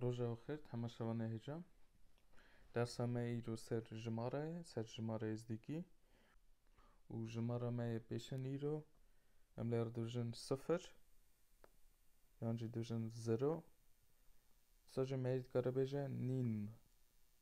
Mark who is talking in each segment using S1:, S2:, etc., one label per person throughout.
S1: Roja xwe xêr, hema şevan e hêja. Dersa me îro ser jimara ye, ser jimara êzdîkî. Û jimara me yê pêşin îro em lê dijin sifir yan jî dijin zero. Sacê me yê dikare bêje nîn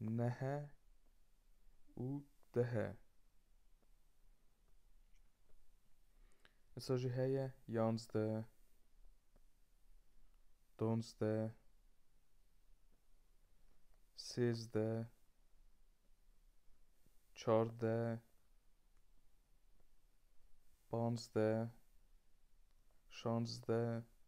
S1: nehe û dihe. Îsa jî heye yanzde, donzde, sêzde, çarde, panzde, şanzde,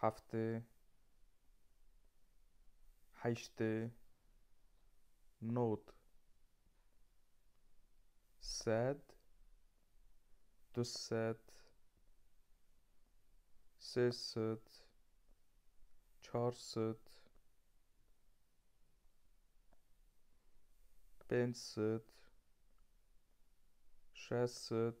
S1: heftê, heştê, nod, sed, du sed, sê sed, çar sed, pênc sed, şeş sed.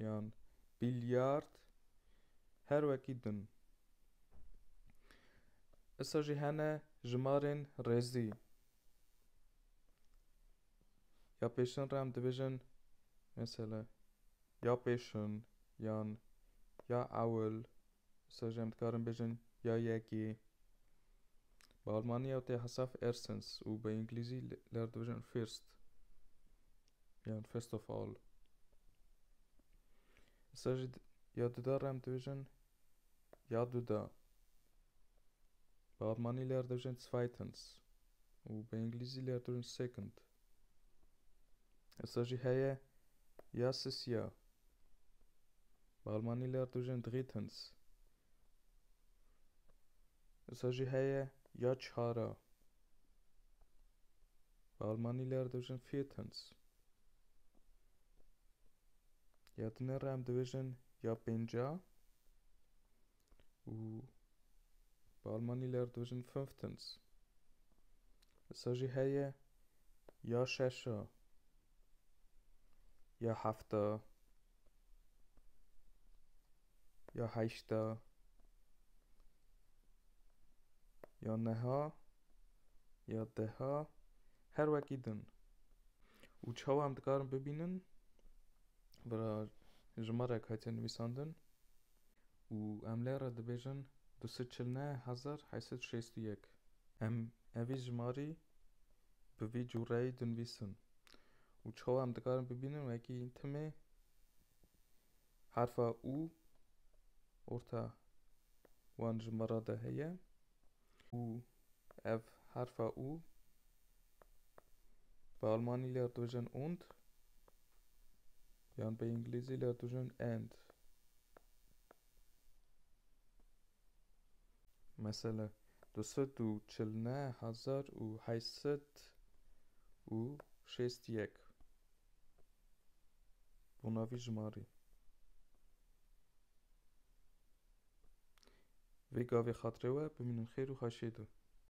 S1: yan bilyard her wekî din. Issa jî hene jimarên rêzî. Ya pêşin re em dibêjin mesela ya pêşin yan ya ewil. Issa jî em dikarin bêjin ya yekê. Bi almanî ew tê hesaf erstens û bi înglîzî li her dibêjin first. Yan first of all. Îsa jî ya duda re em dibêjin ya duda. Bi almanî lê dibêjin zweitens û bi îngilîzî lê dibêjin second. Îsa jî heye ya sisiya. Bi almanî lê dibêjin drittens. Îsa jî heye ya çara. Bi almanî ler dibêjin viertens. Ya di nê re em dibêjin ya pênca û bi almanî ler dibêjin fünftens. Îsa jî heye ya şeşa ya hefta. ya heşta ya neha ya deha her wekî din û çawa em dikarin bibînin vera jimarek hatiye nivîsandin û em lê re dibêjin du sed çil neh hezar heyt sed û şêst û yek. Em evî jimarî bi vî cûreyî dinivîsin û çawa em dikarin bibînin wekî timê Harfa û orta wan ji me re de heye û ev harfa û bi almanî lê dibêjin und yan bi îngilîzî lê dibêjin and. Mesela du sed û çil neh hezar û heşt sed û şêst yek. Bonavî ji ma rê. Vê gavê xatirê we bimînin xêr û haşê de.